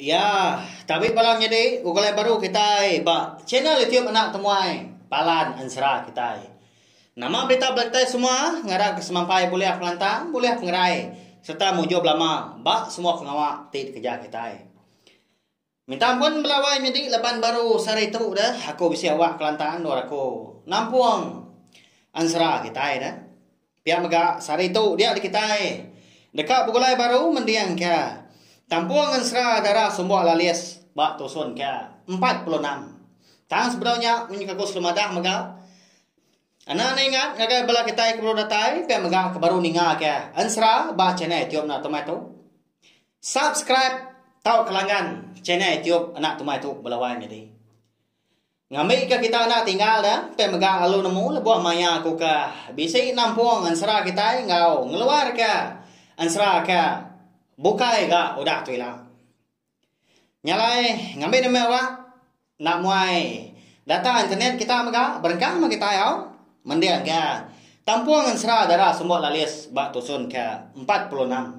Iya, tabi bala nyadi ugai baru kitai ba channel YouTube Anak Temuai Palan Ensera kitai. Nama berita bala kitai semua ngarapka semampai bulih pengelantang, bulih pengerai sereta mujur belama ba semua pengawa ti dikereja kitai. Minta ampun bala wai nyadi laban baru sehari tu deh aku bisi awak kelantang endur aku nampung ensera kitai deh. Pia mega, sehari tu dia dikitai deka begulai baru mending ke Tampung Ensera Dara Sumbok Lalis ba Tusun ke empat puluh enam. Tang sebedau nya menyuka ku Sri Madah mega enda enda ingat ngagai bala kitai ke baru datai pia mega ke baru ninga ke Ensera ba channel YouTube enda tumai tu. Subscribe tauka langgan channel YouTube enda tumai tu bala wai nyadi. Ngambika kita enda tinggal da empai mega lalu nemu lebuh maya aku ka bisi nampung ensera kitai enggau ngeluarka ensera ka bukai ga udah tu ila. Nya alai ngambi demi awak enda muai data internet kita mega berengkah meh kitai au mending ga tampung ensera dara semua lalis ba tusun ka empat puluh enam.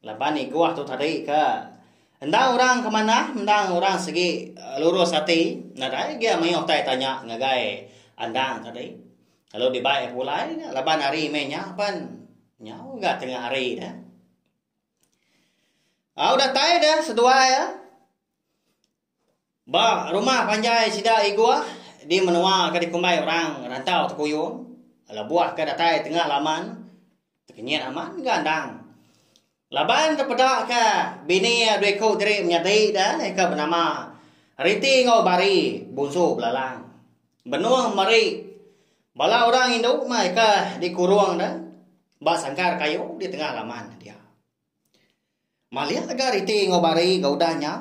Laban niguh tu tadi ke endang orang ke manah endang orang segi lurus ati nadai gia mayuh tai tanya ngagai endang tadi lalu dibai iya pulai laban hari meh nya pan nyau ga tengah hari dah. Au datai deh seduai e. Ba rumah panjai sida Iguah di menua ke dikumbai orang Rantau Tekuyung, lebuh ke datai tengah laman, tekenyit amat ga endang. Laban tepeda ke bini dua iku diri menyadi da ke benama Riti enggau Bari bunsu belalang. Benung meri bala orang indu mai ke dikurung da ba sangkar kayu di tengah laman dia. Malik ga riti enggau bari ga udah nya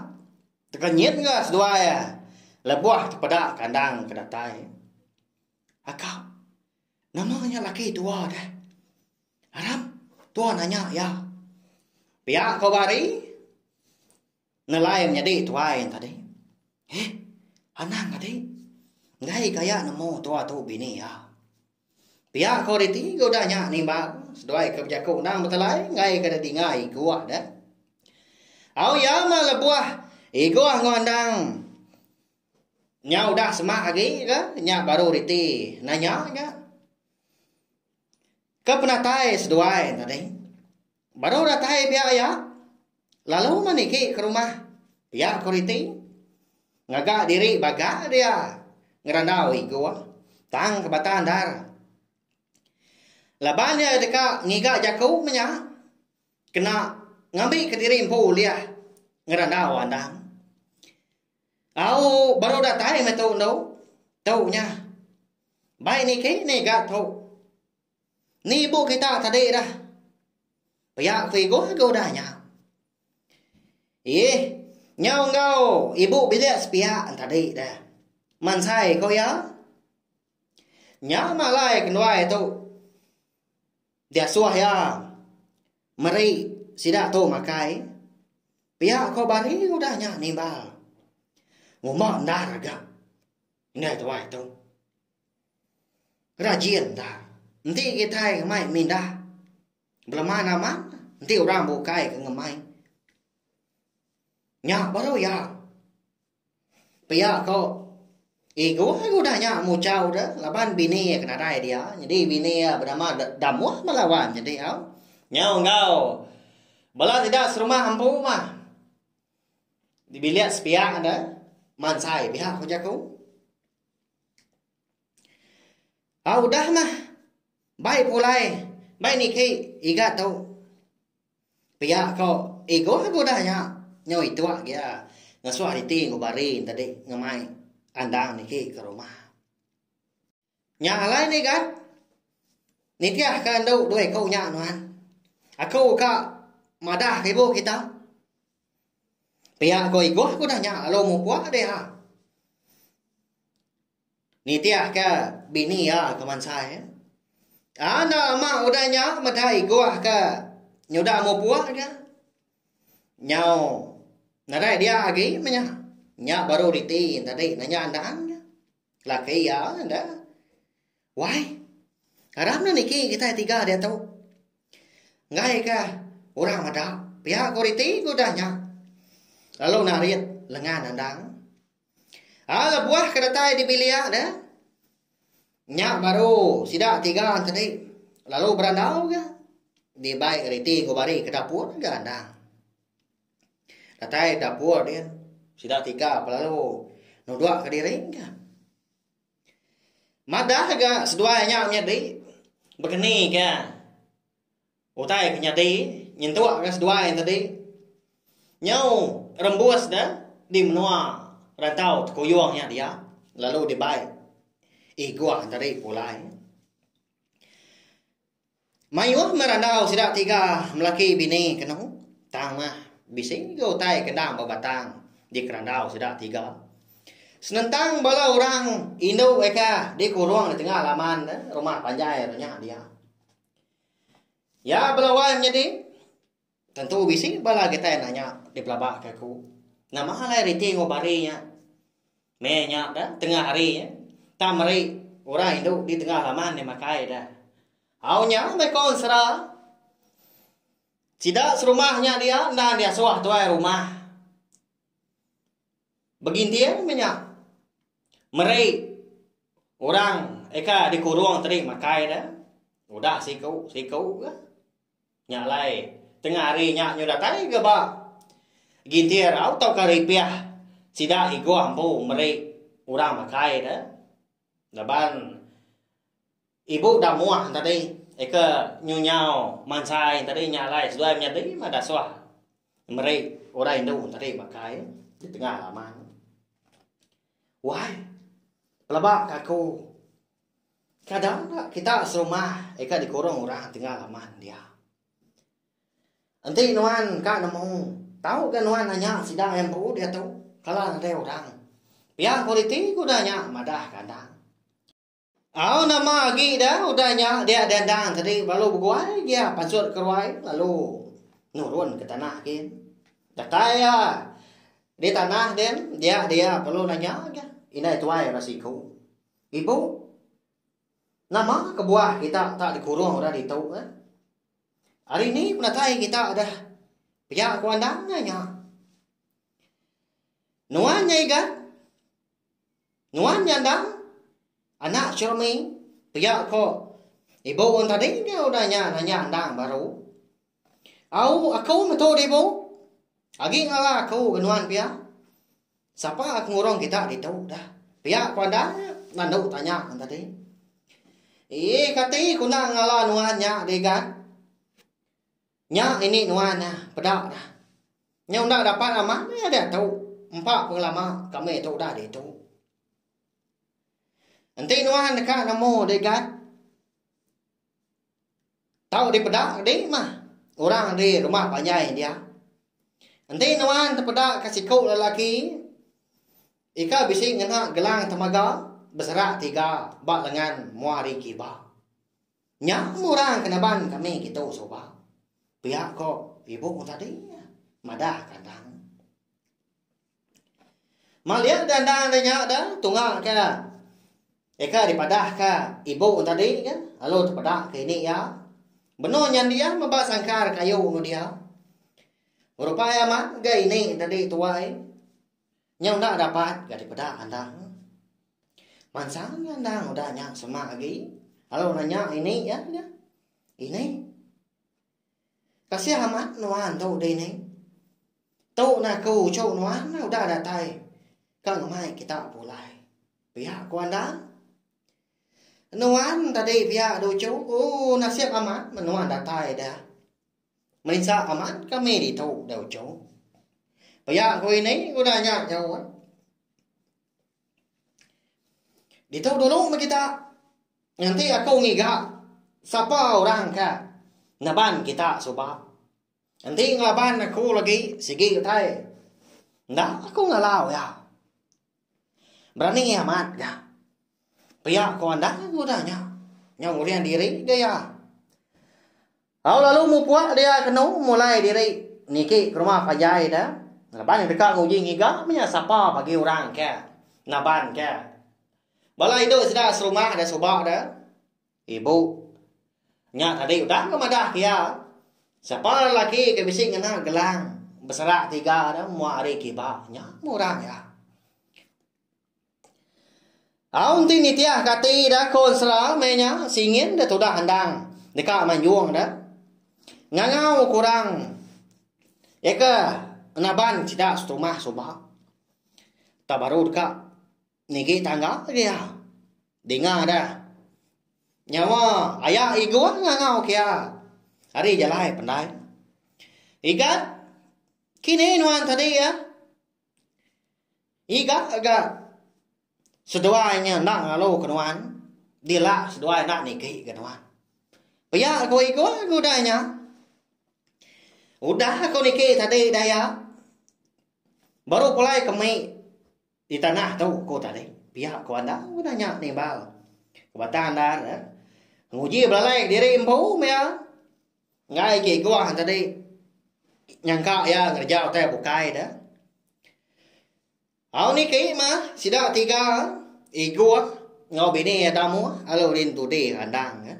tekenyit ga seduai lebuh tepeda kandang ke datai aka nama nya laki tua deh arap tua nanya iya pia ko bari. Nelain nyadi tuai nya tadi. Heh, anang ati. Enggai ke aya nemu tua tu bini iya. Pia ko riti ke udah nya nimbang seduai ke bejaku endang betelai enggai ke ada dinga Igoh deh. Au iya mah lebuh Igoh enggau endang nya udah semak agi ke nya baru riti nanya nya. Ke penatai seduai nya tadi. Baru datai pia iya, lalu maniki ke rumah pia ko Riti. Ngaga diri baga dia ngerandau igu tang ke bata andar. Laban dia deka ngiga jaku menya kena ngambi ke diri empu ulih ngerandau andang. Au baru datai meh tu endo. Tu nya. Bai niki niga tu. Ni ibu kita tadi dah. Pia ku Igoh ke udah nya. Iih, nyau enggau ibu bilik sepia tadi dah. Mansai ko iya. Nya mah alai kenduai tu. Diasuh iya meri sida tu makai. Pia ko bari udah nya nimbal. Ngumba endar ga. Ngagai tuai tu. Rajin ta. Enti kitai ngemai mindah beleman amat, enti orang bukai ke ngemai. Nya baru iya. Pia ko ego ego udah nya muchau deh laban bini iya ke nadai dia. Nyadi bini iya benama Damuh bala wan nyadi au. Nyau enggau bala sida serumah empu mah. Di bilik sepiak deh mansai pia ko jaku. Au udah mah. Bai pulai. Bai niki iga tu. Pia ko igo lagu udah nya. Nyau itu agi iya. Ngesuak iti enggau bari nya tadi ngemai andang niki ke rumah. Nya alai ne igat. Nitih ke enda dua iku nya nuan. Aku ka madah ke ibu kita. Pia ko Igoh ku udah nya lalu mupuk deh ha. Nitih ka bini iya ke mansai. Anak ama udah nya meda Igoh ka nyudah mupuk ka. Nyau nadai dia agi menya. Nya baru reti tadi nanya andan ka. Laki iya enda. Wai. Aram ne niki kitai tiga diatu. Enggai ka orang meda pia ku riti ku udah nya. Lalu narit lengan andang. Ah lebuh ke datai di bilik ne nya baru sida tiga tadi lalu berandau ga di bai riti ku bari ke dapur ga andang. Datai dapur din sida tiga lalu nudok ka diri ga. Madah ga seduai nya menyadi bekeni ga utai ke nyadi nyentuk ga seduai nya tadi nyau rembus da di menua rantau tekuyung nya dia lalu dibai iguh tadi pulai. Mayuh meh randau sida tiga melaki bini ke nemu tang mah bisi ga utai ke endang ba batang di kerandau sida tiga. Senentang bala orang indu eka di kurung di tengah laman ne rumah panjai nya dia. Ya bela wai menyadi. Tentu bisi bala kitai nanya dipelabaka aku, nama alai reti enggau bari nya? Meh nya da tengah hari nya, tang meri orang indu di tengah laman nya makai da. Au nya meh ko ensera, sida serumah nya dia endang diasuh tuai rumah. Beginting meh nya meri orang aka dikurung tadi makai da, udah siku siku ka. Nya alai, tengah ari nya nyu datai ga ba gintir au tauka ripiah sida igoh empu meri orang makai da. Laban ibu da moh tadi eka nyu nyau mansai tadi nya alai seduai menyadi mah dasuh meri orang indu tadi makai di tengah laman. Wai pelaba ka aku. Kadang ka kita serumah ika dikurung orang tinggal aman dia. Enti nuan ka nemu, tau ga nuan nanya sida yang empu diatu kala nadai orang. Pia kualiti ke udah nya madah kandang. Au nama agi da udah nya dia dandang tadi lalu beguai gia pansut ke ruai lalu nurun ke tanah gin. Datai ia di tanah din dia dia perlu nanya aja indai tuai ba siku. Ibu, nama kebuah kita tak dikurung orang ditu eh? Hari ni penatai kita dah pia ku andang ai nya. Nuan nya igat. Nuan nya andang. Anak Churmi pia ko ibu un tadi ke udah nya nanya andang baru. Au aku metu dibu agi ngala aku ga nuan pia. Sapa ke ngurung kita ditu dah. Pia ku anda nandu tanya ngan tadi. Ih kati ku enda ngala nuan nya deh gat. Nya ini nuan nah peda nah. Nyau enda dapat amat meh diatu empa pengelama kami tu udah ditu. Enti nuan deka nemu deh gat. Tau dipeda agi mah orang agi rumah panjai dia. Enti nuan tepeda ke siku lelaki ika bisi ngena gelang temaga beserak tiga ba lengan mua ari kiba. Nya orang ke naban kami kitu suba pia ko ibu tadi madah kandang. Malik ke enda deh nya deh tunga ke eka dipadah ke ibu tadi ke lalu tepeda ke ini iya benung nya dia meba sangkar kayu ngan dia rupa iya amat ga ini tadi tuai nyau enda dapat ga dipeda andang mansang ga andang udah nya semak agi lalu nanya ini iya nya ini. Kasih amat nuan tu dining. Tu nah aku uchu nuan udah datai ka ngemai kita pulai. Pia ku andan. Nuan tadi pia duchu ooh nasib amat men nuan datai da. Merinsa amat kami ditu da uchu. Pia ku ini udah nya nyaut. Ditu dulu meh kita nganti aku ngiga sapa orang ka naban kita suba enti ngelaban aku lagi sigi utai enda aku ngalau iya berani amat ga pia ku anang udah nya nyaw uriang diri ga iya. Au lalu mupuak dia kenu mulai diri niki ke rumah panjai da laban iya deka nguji ngiga menya sapa bagi orang ke naban ke. Bala indu sida serumah da suba da ibu nya tadi udah ke madah ke iya sapa lelaki ke bisi ngena gelang beserak tiga da mua hari kiba nya meh orang iya. Au enti nitih ka ati da ko ensera meh nya singin da tudah endang deka manjung da ngangau ku orang iya ke naban sida setumah suba tau baru deka nigi tangga lagi iya dinga da nyawa aya igong ngangau ke iya ari jalai pandai igat kini nuan tadi iya Iga ga seduai nya enda ngalu ke nuan dila seduai enda niki ga nuan pia ku iga ga udah nya udah ku niki tadi udah iya baru pulai ke mei di tanah tu ku tadi pia ku enda udah nya nimbal ke batang anda nguji belalai diri empu pia. Enggai agi Iguang tadi nyangka iya ngereja utai bukai deh. Au niki mah sida tiga Iguang enggau bini iya tamu lalu Lintudi randang. Eh.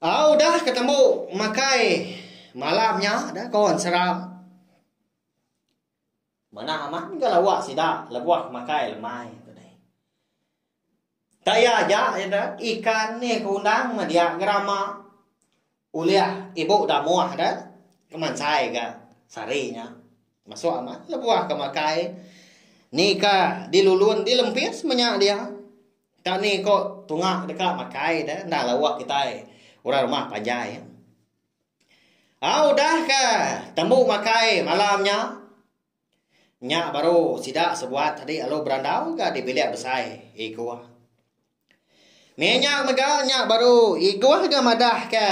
Au dah ketemu makai malam nya dah kawan seram. Manah amat ga lawa sida lebuh makai lemai tu deh. Tak iya aja sida ikan ni ke undang media gerama ulih ibu damuh deh ke mansai ga sehari nya. Masuk amat lebuh ke makai ni ka dilulun dilempis menya dia. Tak ni ko tunga deka makai deh enda lawa kitai orang rumah panjai. Au udah ke tembu makai malam nya. Nya baru sida sebuat adi lalu berandau ga di bilik besai Igoh. Mih nya mega nya baru Igoh ga madah ke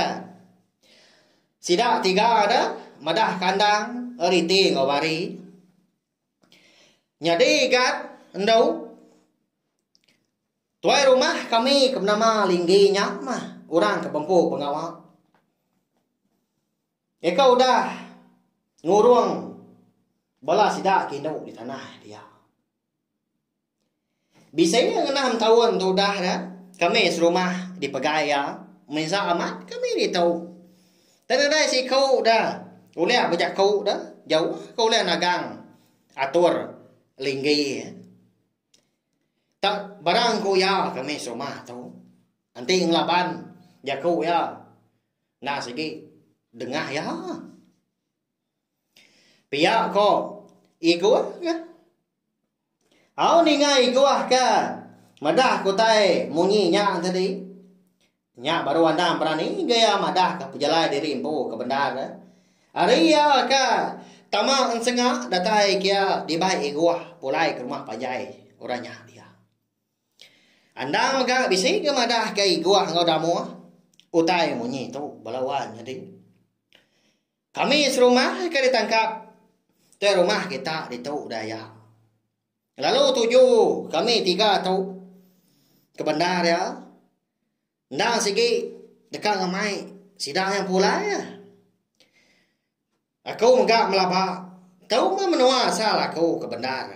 sida tiga ne madah kandang riti enggau bari. Nyadi gat endu. Tuai rumah kami ke benama Linggi nya mah orang ke bempu pengawa. Iya ke udah ngurung bala sida ke indu di tanah dia. Bisi iya ngenang am taun tu udah nya, kami serumah dipegai iya misa amat kami ditu. Tang nadai siku da ulih bejaku da jauh ke ulih nagang atur Linggi. Tang barang ku iya ke meh serumah atu enti ngelaban jaku iya enda sigi dengah iya. Pia ko iguh ka au ninga iguh ka madah ke utai munyi nya tadi Nya baru anang berani ga iya madahka pejalai diri empu ke bendar. Ari iya ka tama ensenga datai ke iya dibai Iguh pulai ke rumah panjai orang nya dia. Anang mega bisi ga madahka Iguh enggau Damoh utai munyi tu bala wan nyadi. Kami serumah ka ditangkap. Tuai rumah kita ditu udah iya. Lalu tuju kami tiga tu kebendar iya enda sigi deka ngemai sida iya pulai iya. Aku mega belaba tu mah menua asal aku kebendar.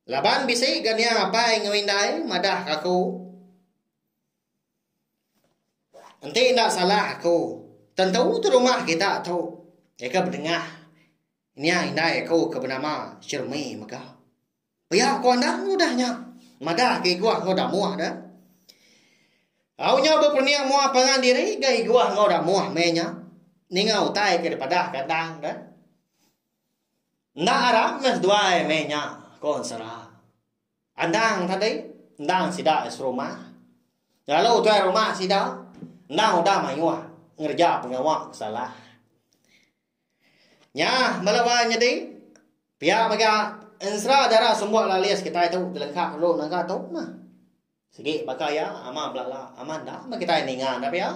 Laban bisi ga nia apai enggau indai madah ga aku enti enda salah aku tentu tu rumah kita tu nyadi bedengah. Nya indai aku ke benama Shermi mega. Pia ku anang ngudah nya. Madahka Iguah enggau Damuh dah. Au nyau beperening mua pangan diri ga Iguah enggau Damuh meh nya. Ninga utai ke dipadahka anang dah. Enda arap meh seduai meh nya, ku Ensera. Anang tadi endang sida serumah. Lalu tuai rumah sida endang udah mayuh ngereja pengawa ke salah. Nya melo ba nyadi pia mega ensera dara semua lalu list kitai tu dilengkap lalu naga tu mah. Sigi baka iya ama belala ama enda meh kitai ninga enda pia.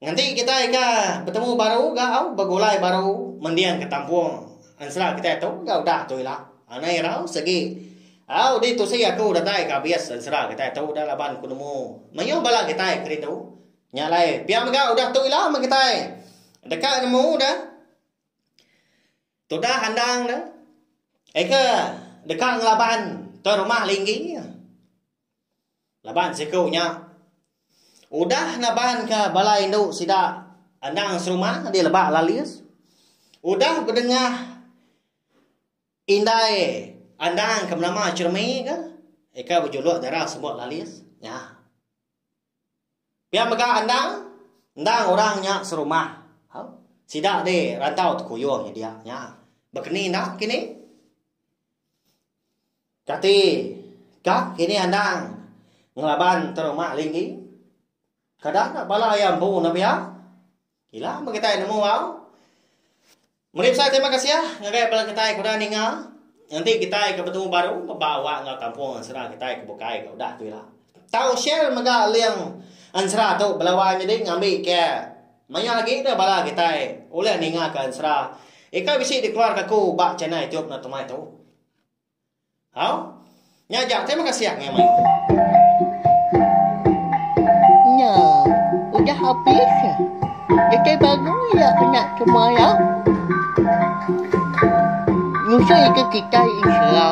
Nganti kitai ka betemu baru ga au begulai baru mending ka tampung ensera kitai tu ga udah tu ila. Anang irau sigi au di tusi aku datai ka abis ensera kitai tu udah laban ku nemu mayuh bala kitai kerindu. Nya alai, pia mega udah tu ila meh kitai deka nemu ne tudah andang ne ega deka ngelaban ke rumah Linggi. Laban siku nya udah nabanka bala indu sida andang serumah di Lebak Lalis udah bedengah indai andang ke benama Chermi ka eka bejuluk dara Semut Lalis nya. Pia mega endang endang orang nya serumah. Au. Sida di rantau tekuyung nyedia nya. Bekeni enda kini? Kati ka kini endang ngelaban teruma linggi? Kada ka bala iya empu enda pia? Ila meh kitai nemu au. Meri besai terima kasih ngagai bala kitai ke udah ninga. Enti kitai ke betemu baru meba awak enggau kampung ensera kitai ke bukai ke udah tu ila. Tau share mega link ensera tu bala wai nyadi ngambi ke maioh agi deh bala kitai ulih ninga ke ensera ika bisi dikeluarka aku ba channel youtube Natuma tu. Hau. Nya aja. Terima kasih angai mai. Nya. Udah habis. Kitai baru iya anak semua iya. Ngusoi ke kitai insha.